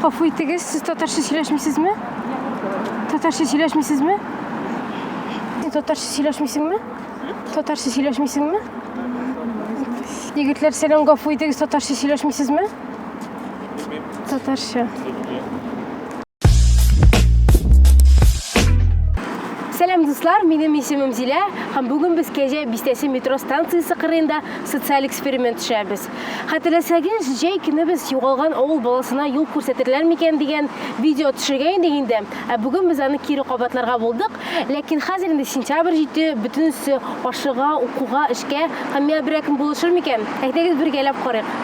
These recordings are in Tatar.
Гафу итегез, сез татарча сөйләшмисезме? Татарча сөйләшмисезме? Татарча сөйләшмисеңме? Татарча сөйләшмисеңме? Егетләр, сәлам, гафу итегез, татарча сөйләшмисезме? Татарча. Сәлам дуслар, минем исемем Зилә һәм бүген без Кәҗә бистәсе метро станциясе кырыенда социаль эксперимент төшәбез. Хәтерләсәгез, җәй көне без югалган авыл баласына юл күрсәтерләр микән дигән видео төшергән идек инде. Ә бүген без аны кире кабатларга булдык. Ләкин хәзер инде сентябрь җитте, бөтенесе ашыга, укуга, эшкә. Һәм миңа берәкем булышыр микән? Әйдәгез бергәләп карыйк.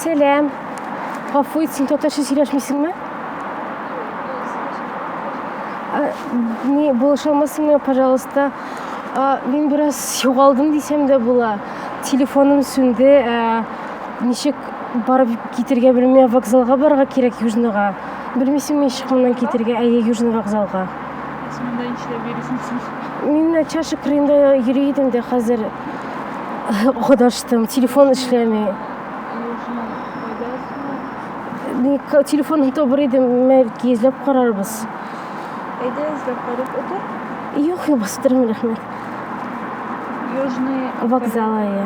Сәләм. Гафу ит, син татарча сөйләшмисеңме? Не, булыша алмасыңмы, пожалуйста? Мин бераз югалдым дисәм дә була. Телефоным сүнде. Ничек барып китергә белмәм, вокзалга барырга кирәк Южныйга. Белмисеңме ничек моннан китергә? Әйе, Южный вокзалга. Сез монда нишләп йөрисез? Мин чашы кырында йөри идем дә хәзер кадаштым. Телефон эшләми. Телефонны табыр идем, мәлки эзләп карарбыз. Әйдә эзләп карап утыр. Юк, юк, бастырмый рәхмәт. Южный вокзал, әйе.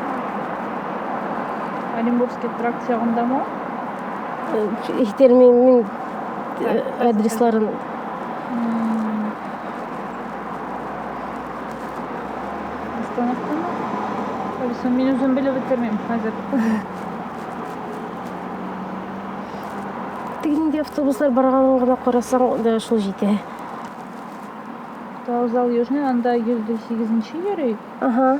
Оренбургский тракт ягында ма? Итер мин, мин э, адресларын Остановка ма? Алиса, мин үзем белеп бетермим хәзер. Тик инде автобуслар барганын гына карасаң да шул җитә. Вокзал Южный, анда 108 йөри. Ага.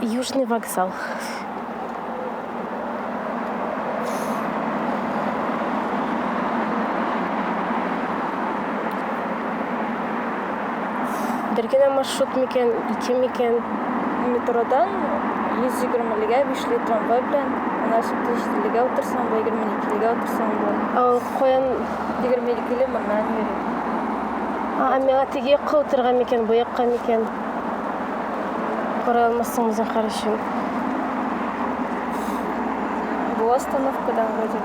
Южный вокзал. Бер генә маршрут микән, ике микән? Метродан 120-легә 5 ле трамвай белән, ана сүтте 7-легә утырсаң, бу 22-легә утырсаң бу. Ал каян 22-ле моннан йөри. А, миңа теге якка утырга микән, бу якка микән? Кара алмассың Захар өчен. Бу остановкада вроде.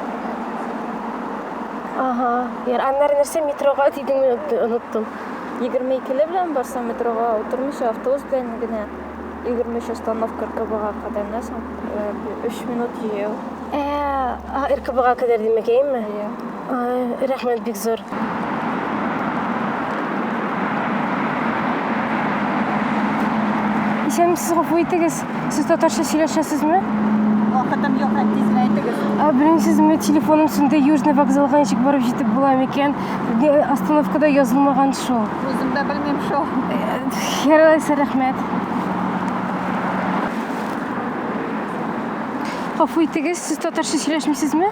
Ага. Яр, аннары нәрсә метрога дидең оныттым. 22 ле белән барса метрога утырмыйча автобус белән генә 23 остановка РКБга кадәр нәрсәң 3 минут җәяү. Ә, РКБга кадәр димәкәйме? Иә. Рәхмәт бик зур. Исәнмесез, гафу итегез. Сез татарча сөйләшәсезме? Вакытым юк, һәм тизрәк итегез. Белмим, сез менә телефоным сүнде, Южный вокзалга ничек барып җитеп була микән? Остановкада язылмаган шул. Үзем дә белмим шул. Яралайса, рәхмәт. Гафу итегез, сез татарча сөйләшмисезме?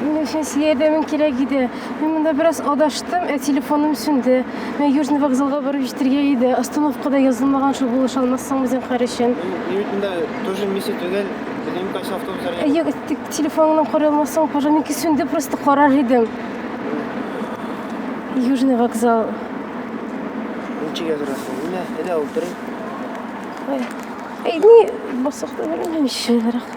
Мин өчен сиңа ярдәмең кирәк иде. Мин монда бераз адаштым, ә телефоным сүнде. Мин Южный вокзалга барып җитәргә иде. Остановкада язылмаган шул булыша алмассың үзең карышын. Мин бит монда тоже миссия түгел. Телефон кайсы автобус әле? Әйе, тик телефоныңны карый алмассың, пожалуйста. Минки сүнде, просто карар идем. Южный вокзал. Ничек язырасың? Менә, әйдә утырыйк. Ай, Әй, ни, басык та белмим, ишелерәк.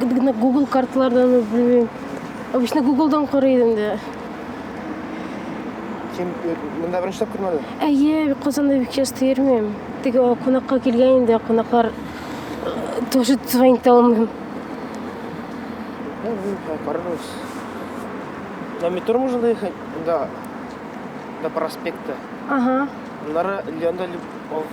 гына Google карталардан белмим. Обычно Google-дан карый идем дә. Кем монда беренче тапкыр мәле? Әйе, Казанда бик часто йөрмим. Теге кунакка килгән инде, кунаклар тоже звонить алмыйм. Карарбыз. На метро можно доехать? Да. До проспекта. Ага. Нара Леонда Любовь.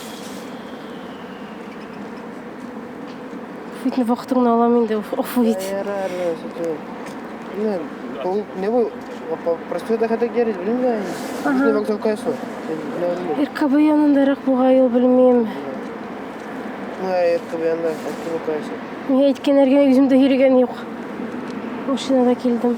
Фитне вакытыңны алам инде, офу ит. Блин, пол... не вы... Простой доход герит, блин, да? Ага. Не вокзал кайсу. РКБ янындарак буга юл белмим. Мына РКБ янында, РКБ кайсу. Миңа әйткән әргенә үземдә йөргән юк. Машинада килдем.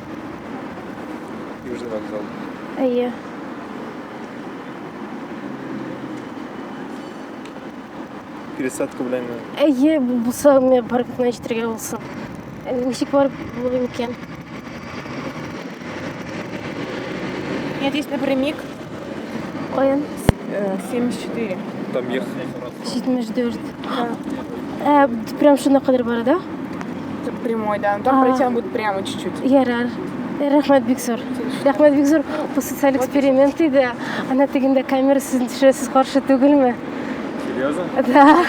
Южный вокзал. Әйе. Пересадка белән. Әйе, булса, мен паркка җитәргә булса. Үсек бар булыр микән? Я здесь напрямик. Каян? 74. Там ехать. 74. Ә, прям шуна кадәр бара, да? Тут прямой, да. Но там А. пройти надо будет прямо чуть-чуть. Ярар. Рәхмәт бик зур. Рәхмәт бик зур. Бу социаль эксперимент иде. Ана тегендә камера сезне төшерә, сез каршы түгелме? Серьезно? Да.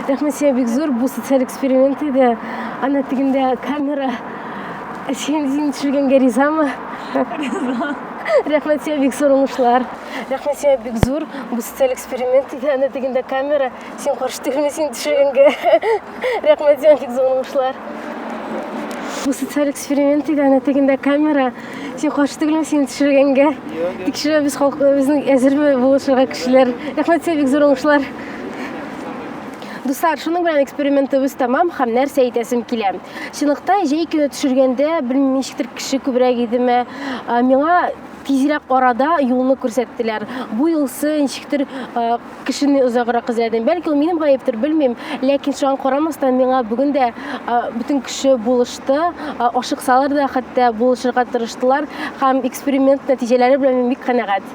Рәхмәт сиңа бик зур. Бу социаль эксперимент иде. Ана тегендә камера. Син син төшергәнгә ризамы? Рәхмәт сиңа бик зур уңышлар. Рәхмәт сиңа бик зур. Бу социаль эксперимент иде, аны дигәндә камера. Син каршы түгелме син төшергәнгә? Рәхмәт сиңа бик зур уңышлар. Бу социаль эксперимент иде, аны дигәндә камера. Син каршы түгелме син төшергәнгә? Тикшерәбез халыкны, безнең әзерме булышырга кешеләр. Рәхмәт сиңа бик зур уңышлар. Дуслар, шуның белән экспериментыбыз тәмам һәм нәрсә әйтәсем килә. Чынлыкта җәй көне төшергәндә, белмим, ничектер кеше күбрәк идеме, миңа тизрәк арада юлны күрсәттеләр. Бу юлсы ничектер кешене озаграк эзләдем. Бәлки ул минем гаептер, белмим, ләкин шуңа карамастан миңа бүген дә бөтен кеше булышты. Ашыксалар да хәтта булышырга тырыштылар һәм эксперимент нәтиҗәләре белән мин бик канәгать.